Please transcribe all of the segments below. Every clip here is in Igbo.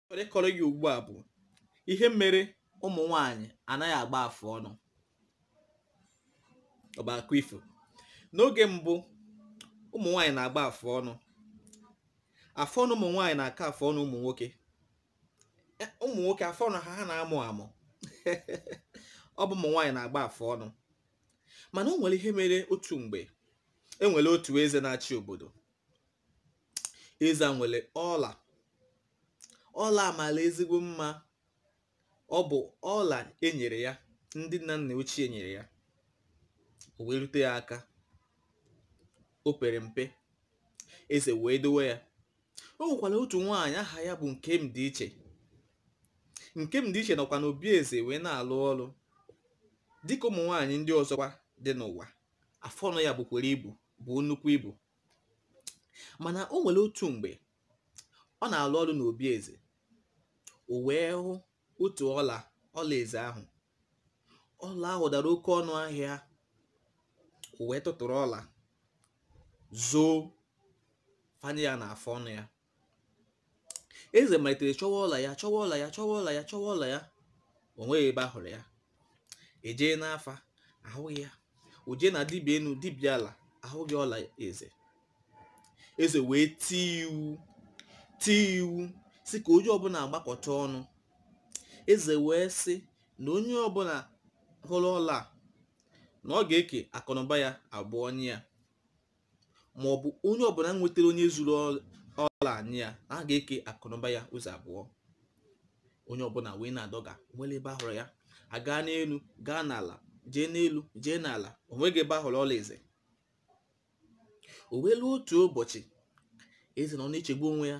chọrọ ịkọrọ gị ugbu a bụ ihe mere ụmụ nwanyị anaghị agba afụ ọnụ ọ bụ akụkọ ifo n'oge mbụ ụmụ nwanyị na-agba afụ ọnụ afụ ọnụ ụmụ nwanyị na-aka afụ ọnụ ụmụ nwoke e, ụmụ nwoke afụ ọnụ ha ha na-amụ amụ ọ bụ ụmụ nwanyị na-agba afụ ọnụ mana o nwere ihe mere otu mgbe e nwere otu eze na-achị obodo eze a nwere ọla ọla a mala ezigbo mma ọ bụ ọla e nyere ya ndị nna nna ochie nyere ya o wee rute ya aka o pere mpe eze wee dowe ya o nwekwara otu nwaanyị aha ya bụ nkemdịiche nkemdịiche nọkwa n'obi eze wee na-alụ ọrụ dịka ụmụ nwaanyị ndị ọzọkwa dị n'ụwa afọ ọnụ ya bukwara ibu buo nnukwu ibu mana o nwere otu mgbe ọ na-alụ ọrụ n'obi eze o wee hụ otu ọla ọla eze ahụ ọla ahụ dara oke ọnụ ahịa o wee tụtụrụ ọla zoo fanye ya n'afọ ọnụ ya eze malitere chọwa ọla ya chọwa ọla ya chọwa ọla ya chọwa ọla ya o nweghị ebe a hụrụ ya e jee n'afa ahụghị ya o jee na dibịa enu dibịa ala ahụghị ọla eze eze wee tie iwu tie iwu sị ka onye ọbụla agbakọta ọnụ eze wee sị na onye ọbụla hụrụ ọla na ọ ga-eke akụnụba ya abụọ nye ya ma ọ bụ onye ọbụla nwetara onye zuru ọla a nye ya a ga-eke akụnụba ya ụzọ abụọ onye ọbụla wee na-adọga o nwere ebe a hụrụ ya a gaa n'elu gaa n'ala jee n'elu jee n'ala o nweghị ebe a hụrụ ọla eze o wee ruo otu ụbọchị eze nọ na-echegbu onwe ya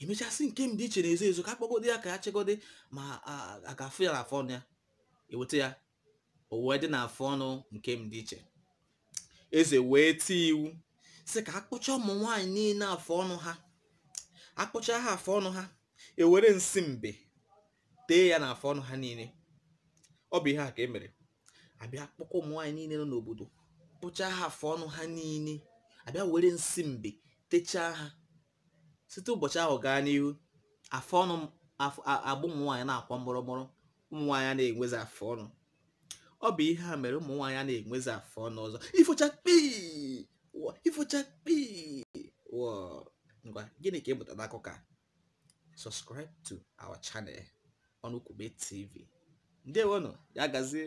e mechaa sị nkemdịiche na-ezo ezo ka a kpọgode ya ka ya chegode ma a ga-afụ ya n'afọ ọnụ ya e weta ya o wee dị n'afọ ọnụ nkemdịiche eze wee tie iwu sị ka a kpụchaa ụmụ nwaanyị niile afọ ọnụ ha a kpụchaa ha afọ ọnụ ha e were nsị mbe tee ya n'afọ ọnụ ha niile ọ bụ ihe a ka e mere a bịa kpọkọ ụmụ nwaanyị niile nọ n'obodo kpụchaa ha afọ ọnụ ha niile a bịa were nsị mbe techaa ha site ụbọchị ahụ gaa n'ihu afọ ọnụ agba ụmụ nwaanyị na-akwọ mụrụmụrụ ụmụ nwaanyị a na-enwezi afọ ọnụ ọ bụ ihe a mere ụmụ nwaanyị a na-enwezi afọ ọnụ ọzọ ifo chakpii ifo chakpii ngwa gịnị ka ị mụtara n'akụkọ a subscribe to our channel ọnụkwube tv ndewonụ ya gazie